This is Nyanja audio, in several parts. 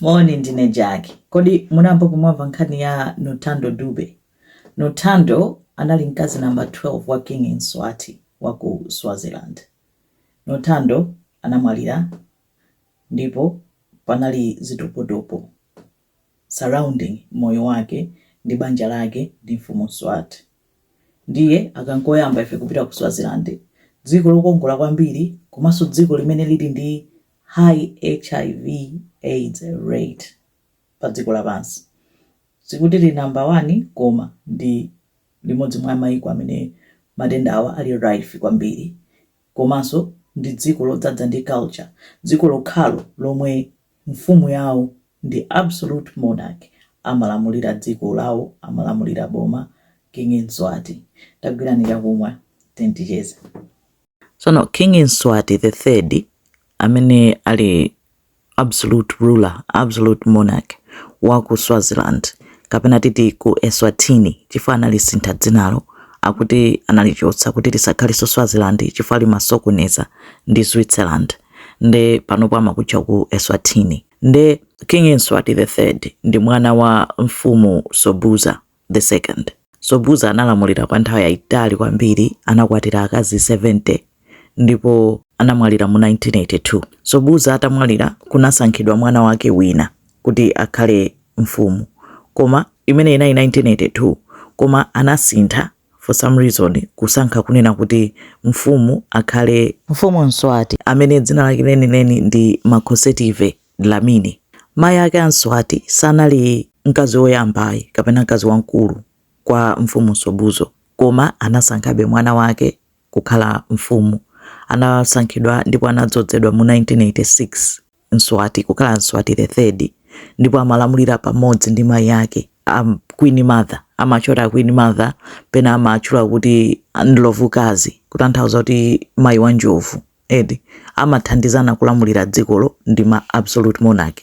Moni, ndine Jack. Kodi munayambapo mwamva nkhani ya Nothando Dube? Nothando anali mkazi namba 12 wa King Mswati wa ku Swaziland. Nothando anamwalira ndipo panali zitopotopo surrounding moyo wake ndi banja lake ndi Mfumu Mswati. Ndiye aka n'koyamba ife kupita ku Swaziland, dziko lokongola kwambiri komanso dziko limene lili ndi High hiv, aids rate pa dziko lapansi. Sikuti lili number 1 koma ndi limodzi mwa maiko amene matendawa ali rife kwambiri. Komanso ndi dziko lodzadza ndi culture. Dziko lokhalo lomwe mfumu yawo ndi absolute monarch, amalamulira dziko lawo, amalamulira boma, King Mswati. Tagwirani chakumwa tiyeni ticheze. Tsono King Mswati the third amene ali absolute ruler, absolute monarch wa ku Swaziland kapena titi ku Eswatini chifukwa analisintha dzinalo akuti analichosa kuti lisakhalenso Swaziland chifukwa limasokoneza ndi Switzerland nde panopo amakutcha ku Eswatini nde King Mswati the third ndi mwana wa mfumu Sobhuza the second. Sobhuza analamulira kwa nthawi yaitali kwambiri, anakwatira akazi 70 ndipo anamwalira mu 1982. Sobhuza atamwalira, kunasankhidwa mwana wake wina kuti akhale mfumu, koma imene inali 1982, koma anasintha for some reason kusankha kunena kuti mfumu akhale Mfumu Mswati amene dzina lake lenileni ndi Makhosetive. Dlamini. Mayi ake a Mswati sanali mkazi woyambayi kapena mkazi wamkulu kwa Mfumu Sobhuza, koma anasankhabe mwana wake kukhala mfumu. Anasankhidwa ndipo anadzodzedwa mu 1986 Mswati kukhala Mswati the Third ndipo amalamulira pamodzi ndi mayi ake a Queen Mother, amatchula a Queen Mother, pena amatchula kuti Ndlovukazi, kutanthauza kuti mayi wa njovu. eti amathandizana kulamulira dzikolo ndi ma absolute monarch.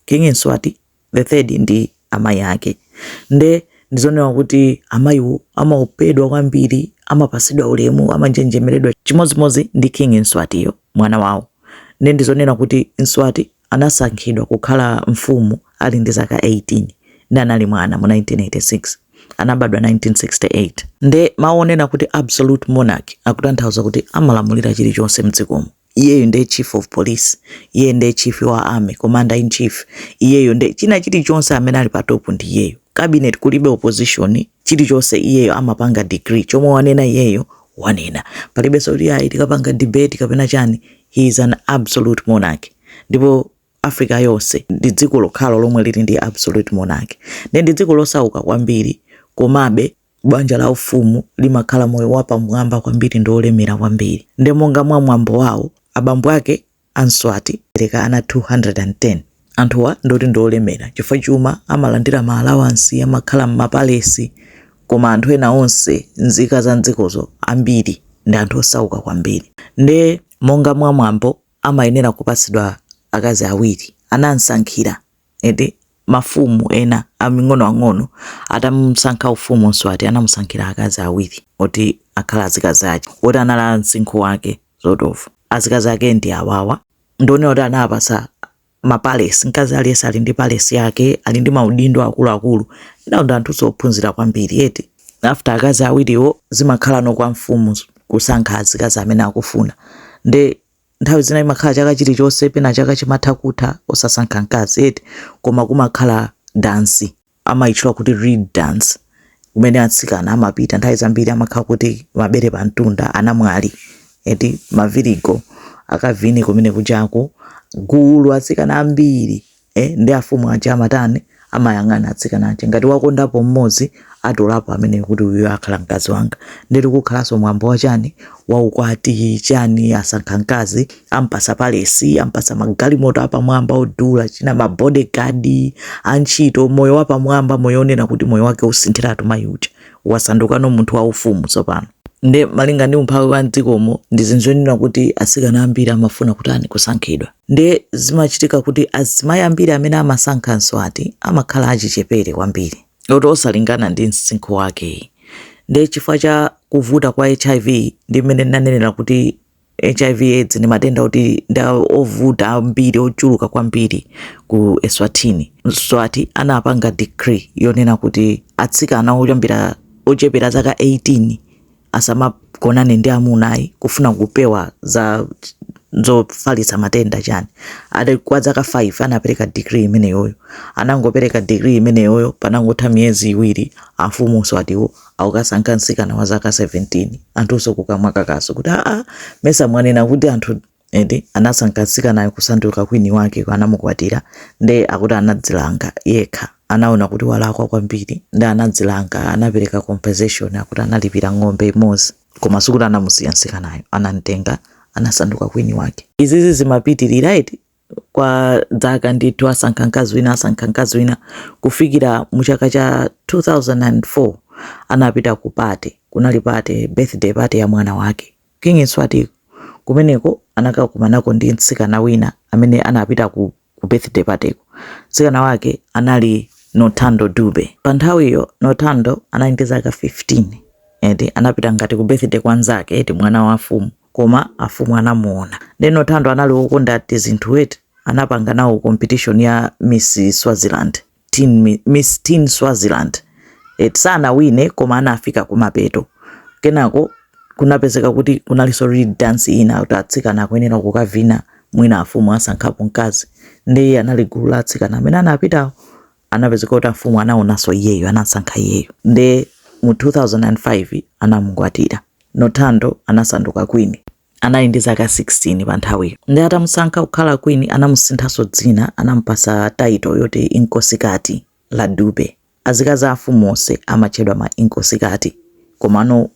King Mswati the third ndi amayi ake nde ndizonena kuti amayiwo amaopedwa kwambiri, amapasidwa ulemu, amanjenjemeredwa chimodzimodzi ndi King Mswatiyo mwana wawo nde ndizonena kuti Mswati Anasankhidwa kukhala mfumu ali ndi zaka 18 ndi anali mwana mu 1986. Anabadwa 1968. Nde mawu onena kuti absolute monarch akutanthauza kuti amalamulira chilichonse mdzikomo. Iyeyo nde chief of police, iyeyu nde chief wa army, commander in chief, iyeyo nde china chilichonse amene ali pa top ndi iyeyo. Cabinet kulibe opposition. chilichonse iyeyo amapanga decree chomwe wanena iyeyo wanena palibenso kuti ayi tikapanga debate kapena chani he is an absolute monarch, ndipo africa yonse ndi dziko lokhalo lomwe lili ndi absolute monarch nde ndi dziko losauka kwambiri komabe banja la ufumu limakhala moyo wapamwamba kwambiri ndi olemera kwambiri nde monga mwa mwambo wawo abambo ake a Mswati anabereka ana 210. Anthuwa ndoti ndi olemera chifukwa chuma, amalandira ma alawansi, amakhala m'mapalesi. Koma anthu ena onse, nzika za m'dzikozo, ambiri ndi anthu osauka kwambiri. Ndiye monga mwa mwambo, amayenera kupatsidwa akazi awiri, anam'sankhira. eti mafumu ena aming'onoang'ono atamusankha ufumu Mswati anamusankhira akazi awiri oti akhale azikazi ake oti anali a msinkhu wake sort of azikazi ake ndi awawa ndionera kuti anawapasa mapalesi mkazi aliyense ali ndi palesi yake ali ndi maudindo akuluakulu nawo ndi anthu ophunzira kwambiri eti after akazi awiriwo zimakhala no kwa mfumu kusankha azikazi amene akufuna nde nthawi zina imakhala chaka chilichonse pena chaka chimatha kutha osasankha mkazi eti koma kumakhala dansi amayitchula kuti reed dance kumene atsikana amapita nthawi zambiri amakhala kuti mabere pa mtunda anamwali eti mavirigo akavine kumene kujaku gulu atsikana ambiri e nde afumu aja amatani amayang'ana atsikana aja ngati wakondapo mmodzi atolapo amvekere kuti uyu akhala mkazi wanga nde eti kukhalanso mwambo wachani waukwati chani asankha mkazi ampasa palesi ampasa magalimoto apamwamba odula china mabodyguard antchito moyo wapamwamba moyo onena kuti moyo wake usinthiratu mayi uja wasandukano munthu waufumu tsopano nde malinga ndi umphawi wa mdzikomo ndi zinthu zonena kuti atsikana ambiri amafuna kutani kusankhidwa Ndiye zimachitika kuti azimayi ambiri amene amasankha mswati amakhala achichepere kwambiri oti osalingana ndi msinkhu wake. Ndiye chifukwa cha kuvuta kwa HIV ndi mmene ndinanenera kuti HIV AIDS ndi matenda oti ndi ovuta kwambiri ochuluka kwambiri ku Eswatini. Mswati anapanga decree yonena kuti atsikana oyambira ochepera zaka 18 asamagonane ndi amuna ayi kufuna kupewa za zofalitsa matenda chani ati kwa zaka 5 anapereka decree imeneyoyo atangopereka decree imeneyoyo patangotha miyezi iwiri amfumu Mswatiwo akukasankha mtsikana wa zaka 17 anthunso kukamwa kakaso kuti aa mesa mwanena kuti anthu eti anasankha mtsikanayo kusanduka kwini wake anamukwatira nde akuti anadzilanga yekha anaona kuti walakwa kwambiri nde anadzilanga anapereka compensation akuti analipira ng'ombe imodzi koma sikuti anamusiya mtsikanayo anamtenga anasanduka kwini wake izizi zimapitirira eti kwa zaka ndithu asankha mkazi wina asankha mkazi wina kufikira mu chaka cha 2004 anapita ku pate kunali pate birthday pate ya mwana wake King Mswati kumeneko anakakumanako ndi mtsikana wina amene anapita ku, ku birthday party ko. Mtsikana wake anali Nothando Dube. Pa nthawiyo Nothando anali ndi zaka 15. Eti anapita ngati ku birthday kwa nzake eti mwana wa mfumu koma afumu anamuona. Nde Nothando anali wokonda tizinthu eti anapanga nawo competition ya Miss Swaziland. Teen Mi- Miss Teen Swaziland eti sanawine koma anafika kumapeto kenako kunapezeka kuti kunalinso reed dance ina kuti atsikana akuyenera kukavina mwina afumu asankhapo mkazi nde iye anali gulu la atsikana amene anapitawo anapezeka kuti afumu anaonanso iyeyo anasankha iyeyo nde mu 2005 anamukwatira nothando anasanduka kwini Anali ndi zaka 16 pa nthawiyo. Ndiye atamusankha kukhala queen anamusinthanso dzina anamupatsa title yoti Inkosikati La Dube. Azikazi a mfumu onse amatchedwa ma Inkosikati komano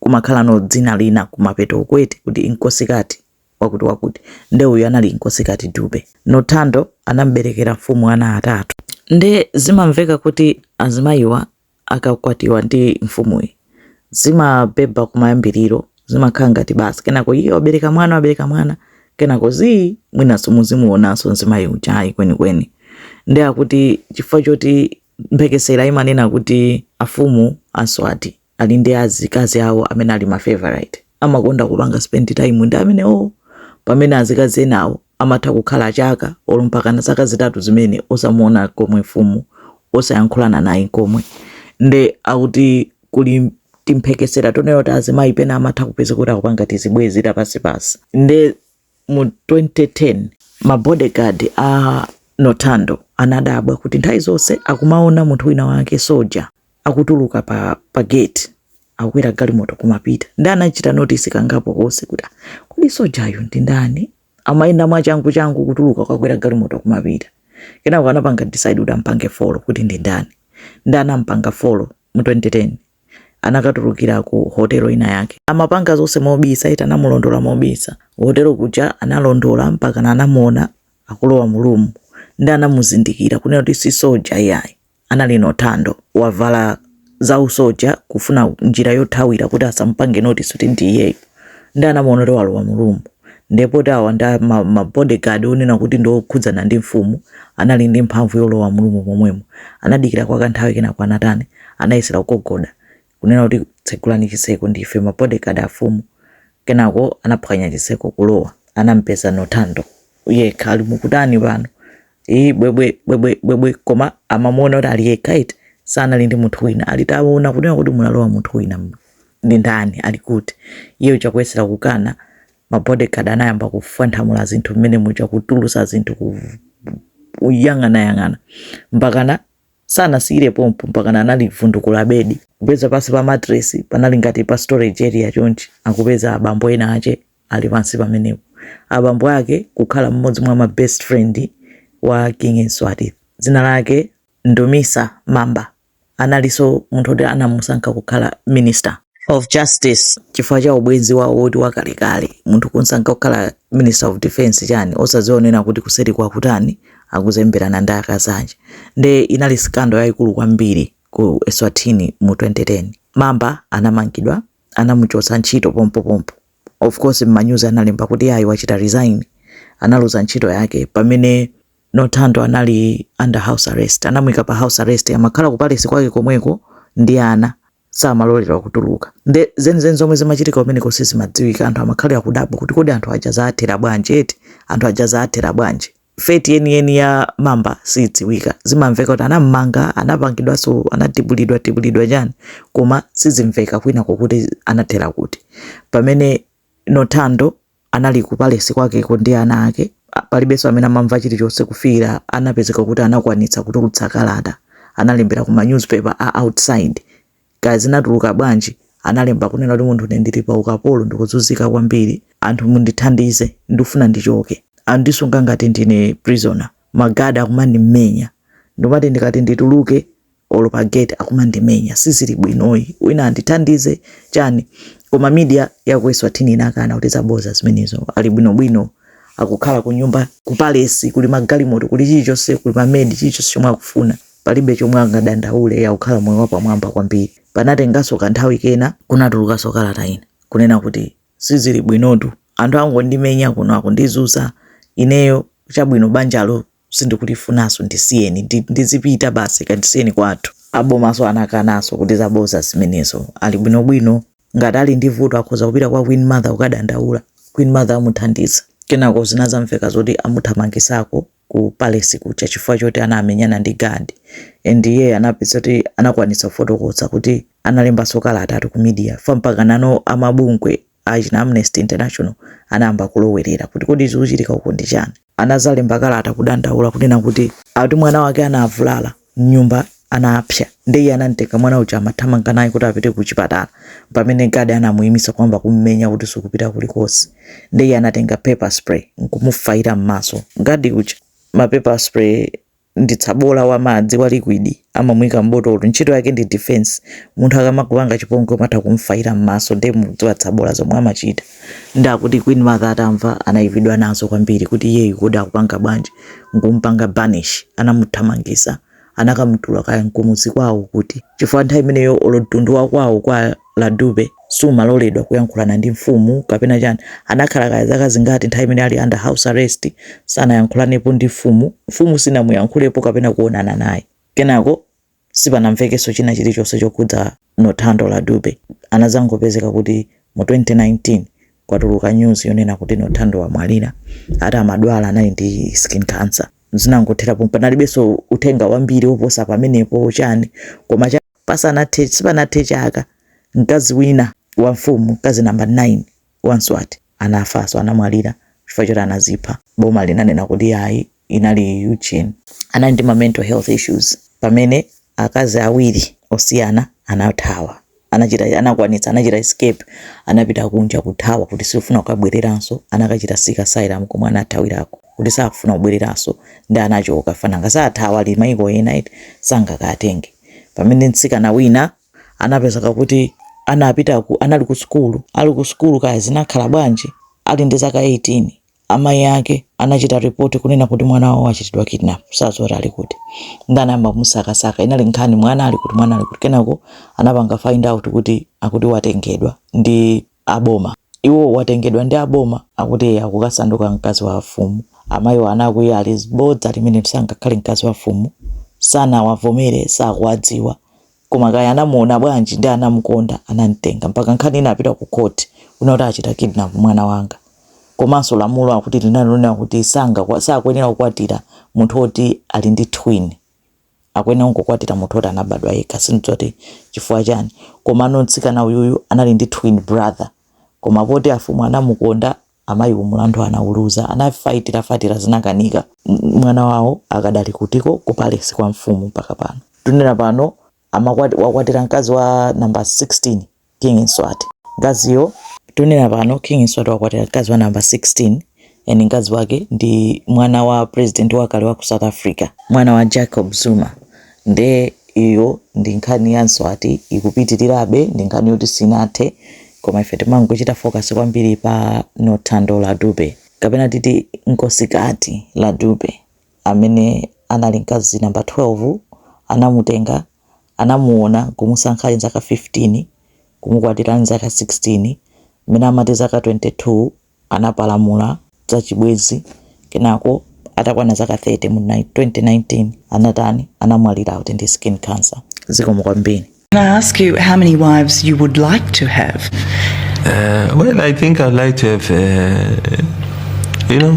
kumakhalano dzina lina kumapeto uku eti kuti Inkosikati wakutiwakuti. Ndiye uyu anali Inkosikati Dube. Nothando anamuberekera mfumu ana atatu. Ndiye zimamveka kuti azimayiwa akakwatiwa ndi mfumuyi zimabhebha kumayambiriro zimakhala ngati basi kenako iye wabereka mwana wabereka mwana kenako zii mwinanso muzimuonanso mzimayi uja ayi kwenikweni nde akuti chifukwa choti mphekesera imanena kuti afumu a mswati ali ndi azikazi awo amene ali ma favorite amakonda kupanga spend time ndi amenewo pamene azikazi enawo amatha kukhala chaka olo mpakana zaka zitatu zimene osamuona nkomwe mfumu osayankhulana naye nkomwe nde akuti kuli timphekesera tonena kuti azimayi pena amatha kupeza kuti akupanga tizibwenzi tapansipansi nde mu 2010 ma bodyguard a Nothando anadabwa kuti nthawi zonse akumaona munthu wina wake soja akutuluka pa, pa gate akukwera galimoto kumapita nde anachita notisi kangapo konse kuti ah, kodi sojayu ndi ndani amayenda mwachangu changu kutuluka kukakwera galimoto kumapita kenako anapanga decide kuti ampange follow kuti ndi ndani nde anampanga follow mu 2010 anakatulukira ku hotelo ina yake. Amapanga zonse mobisa, eti anamulondola mobisa hotelo kuja, analondola mpakana anamuona akulowa mulumu nde anamuzindikira kunena kuti si soja iyayi, anali nothando wavala za usoja kufuna njira yothawira kuti asamupange notice kuti ndi iyeyo, nde anamuona kuti walowa mulumu. Ndiye poti awa ndi ma, ma bodyguard onena kuti ndi okhudzana ndi mfumu anali ndi mphamvu yolowa mu room momwemo. Anadikira kwa kanthawi kenako anatani? Anayesera kugogoda kunena kuti tsegulani chitseko ndife ma bodyguard afumu. Kenako anaphwanya chitseko kulowa. Anampeza Nortando yekha ali mukutani pano? Iyi bwebwe bwebwe bwebwe koma amamuona kuti ali yekha eti sanali ndi munthu wina. Ali taona kunena kuti munalowa munthu wina. ndi ndani ali kuti iye uja kuyesera kukana ma bodyguard anayamba kufwanthamula zinthu mmene muja kutulusa zinthu ku kuyang'anayang'ana mpakana sanasiyire pompo, mpakana analivundukula bedi kupeza pansi pa matresi panali ngati pa storage area chonchi akupeza abambo ena ake ali pansi pamenepo abambo ake kukhala mmodzi mwa ma best friend wa king Mswati dzina lake ndumisa mamba analinso munthu oti anamusankha kukhala minister of justice chifukwa cha ubwenzi wawo woti wakalekale munthu kumsankha kukhala minister of defense chani, osaziwa kunena kuti kuseri kwakutani akuzemberana ndi akazi ake nde inali sikando yayikulu kwambiri ku eswatini mu 2010 mamba anamangidwa anamuchotsa ntchito pompopompo of course manyuzi analemba kuti ayi wachita resign analuza ntchito yake pamene Nothando anali under house arrest, anamuika pa house arrest amakhala ku palace kwake komweko ndi ana samaloledwa kutuluka nde zenizeni zomwe zimachitika kumeneko sizimadziwika anthu amakhala akudabwa kuti kodi anthu aja zaathera bwanji eti anthu aja zaathera bwanji fate yeniyeni ya mamba siidziwika zimamveka kuti anammanga anapangidwanso anatibulidwa tibulidwa chani koma sizimveka kwinako kuti anathera kuti pamene Nothando anali ku palesi kwakeko ndi ana ake, palibenso amene amamva chilichonse kufikira anapezeka kuti anakwanitsa kutulutsa kalata, analembera ku ma newspaper a outside, kaya zinatuluka bwanji, analemba kunena kuti munthu ine ndili pa ukapolo ndikuzunzika kwambiri, anthu mundithandize ndikufuna ndichoke, andisunga ngati ndine prisoner, ma guard akumandimenya, ndikumati ndikati ndituluke. olo pa gate akumandimenya sizili bwino ayi wina andithandize chani koma media ya ku eswatini inakana kuti zaboza zimenezo ali bwinobwino akukhala kunyumba ku palesi kuli magalimoto kuli chilichonse kuli mamedi chilichonse chomwe akufuna palibe chomwe angadandaule akukhala moyo wapamwamba kwambiri panatenganso kanthawi kena kunatulukanso kalata ina kunena kuti sizili bwinotu anthu akungondimenya kuno akundizunza ineyo chabwino banjalo sindikulifunanso ndisiyeni ndi- ndizipita basi kandisiyeni, kwathu abomaso anakanaso kuti zaboza zimenezo ali bwinobwino ngati ali ndi vuto akhoza kupita kwa queen mother kukadandaula queen mother amuthandiza kenako zinazamveka zoti amuthamangisako ku palace kuja chifukwa choti anamenyana ndi gadi and iye anapezeka kuti anakwanitsa kufotokoza kuti analembanso kalata ati ku media mpaka nano a mabungwe anthu achina Amnesty International anayamba kulowerera kuti kodi zikuchitika uku ndi chani. Anadzalemba kalata kudandaula kunena kuti akuti mwana wake anavulala m'nyumba anapsa nde iye anamtenga mwana uja amathamanga naye kuti apite kuchipatala pamene guard anamuyimitsa kuyamba kummenya kuti sukupita kulikonse nde iye anatenga pepper spray nkumufaira m'maso guard uja. Ma pepper spray ndi tsabola wa madzi wa liquid amamuika m'botolo ntchito yake ndi defense munthu akamakupanga chipongwe umatha kumfaira m'maso ndiye mukudziwa tsabola zomwe amachita ndi akuti queen mother atamva anayipidwa nazo kwambiri kuti iyeyu kodi akupanga bwanji nkumpanga banish anamuthamangisa anakamutula kaya nkumudzi kwawo kuti chifukwa nthawi imeneyo olo mtundu wakwawo kwa la Dube samaloledwa kuyankhulana ndi mfumu kapena chani anakhala kaya zaka zingati nthawi imene ali under house arrest sanayankhulanepo ndi mfumu mfumu sinamuyankhulepo kapena kuonana naye kenako sipanamvekenso china chilichonse chokhudza Nothando la Dube anazangopezeka kuti mu 2019 kwatuluka news yonena kuti Nothando wamwalira ati amadwala anali ndi skin cancer zinangotherapo panalibenso uthenga wambiri woposa pamenepo chani koma Pasanathe, sipanathe chaka, mkazi wina wa mfumu, mkazi number 9 wa Mswati anafanso, anamwalira chifukwa choti anazipha. Boma linanena kuti ayi, inali Ugin. Anali ndi ma mental health issues pamene akazi awiri osiyana anathawa, anachita, anakwanitsa, anachita escape, anapita kunja, kuthawa kuti siufuna kukabwereranso, anakachita seek asylum komwe anathawirako kuti sakufuna kubwereranso nde anachoka, chifukwa nanga sathawa ali mayiko ena eti, sangakawatenge. Pamene mtsikana wina anapezeka kuti anapita ku, anali ku sukulu, ali ku sukulu kaya zinakhala bwanji, ali ndi zaka 18 amayi ake anachita ripoti kunena kuti mwana wawo wachitidwa kidnap, sadziwa kuti ali kuti, ndi anayamba kumusakasaka. Inali nkhani mwana ali kuti, mwana ali kuti, kenako anapanga find out kuti akuti watengedwa ndi a boma. Iwo watengedwa ndi a boma akuti eya kukasanduka mkazi wa a fumu. Amaiwo anakwiya ali bodza limenelo sangakhale mkazi wa fumu. Sanawavomere sakuwadziwa koma kaya anamuona bwanji ndi anamukonda anamtenga mpaka nkhani inapita ku court kunena kuti achita kidnap mwana wanga. Komanso lamulo akuti linali lonena kuti sanga sakuyenera kukwatira munthu oti ali ndi twin. akuyenera kungokwatira munthu oti anabadwa yekha sindidziwa kuti chifukwa chani komano mtsikana uyuyu anali ndi twin brother koma poti afumu anamukonda amayiwo mulandu anauluza anafaitira faitira zinakanika mwana wawo akadali kutiko ku palesi kwa mfumu mpaka pano tunena pano amakwa wakwatira mkazi wa namba 16 King Mswati. Mkaziyo tikunena pano King Mswati wakwatira mkazi wa namba 16 and mkazi wake ndi mwana wa president wakale wa ku South Africa, mwana wa Jacob Zuma. Nde iyo ndi nkhani ya Mswati ikupitirirabe, ndi nkhani yoti sinathe koma ife timangochita focus kwambiri pa Nothando LaDube kapena titi Nkosikati LaDube amene anali mkazi namba 12 anamutenga anamuona nkumusankha ali nzaka 15 kumukwatira ali nzaka 16 mmene amati zaka 22 anapalamula za chibwezi kenako atakwana zaka 30 mu 2019 anatani anamwalira kuti ndi skin cancer zikomo kwambiri Can I ask you how many wives you would like to have? Uh, well, I think I'd like to have, uh, you know,